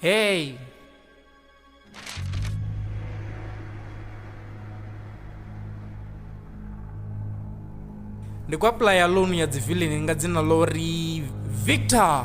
Hey! Ndi kwa playa loan ya dzi villain nga dzina ḽo ri Victor.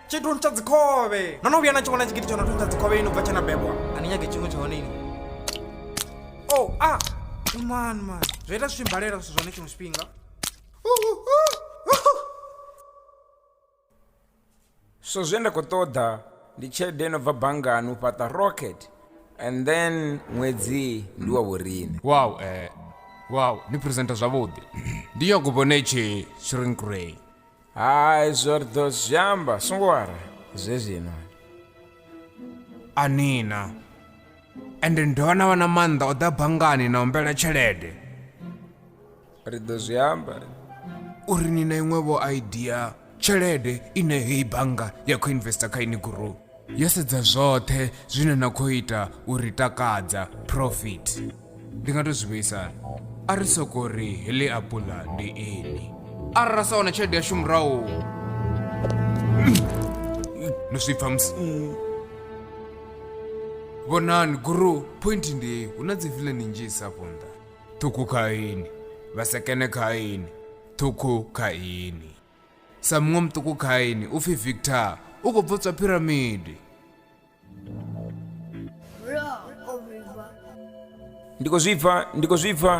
tshi thuntsha dzikhovhe no no vhuya na tshi vhona tshigidi tsho no thuntsha dzikhovhe ini ubva tshe na bebwa a ni nyage tshiṅwe tsha hone ini o oh, a ah. man man zwo ita zwi mbalela zwithu zwone tshiṅwe tshifhinga so zwe nda khou ṱoḓa ndi tshelede no bva banngani u fhaṱa rocket and then ṅwedzi ndi wa vhorine wow eh wow ni presenta zwavhuḓi ndi nyago vhone tshi shrink ray hai zwo ri ḓo zwi amba songo wara zwezwino anina ende ndi dovha na vha na maanḓa o ḓa banngani na humbela tshelede ri ḓo zwi amba uri ni na iṅwevho idea tshelede ine heyi bannga ya khou investor kha ini group Yo sedza zwoṱhe zwine na khou ita u ri takadza profit. Ndi nga to zwi vhuisa a ri soko ri heḽi apula ndi ini. Arali ra sa wana tshelede yashu murahu. No zwi pfa musi. Vhonani guru point ndi hu na dzi villain nnzhisa afho nṱha. Ṱhukhu kha ini vha sekene kha ini ṱhukhu kha ini. sa muṅwe muṱuku kha ini u pfi victor u khou bvotswa phiramidi ndi khou zwi pfa ndi khou zwi pfa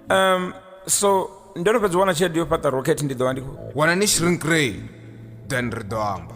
um so ndo no fhedza u wana tshelede yo fhaṱa rocket ndi ḓo vha ndi khou wana ni shrink ray then ri ḓo amba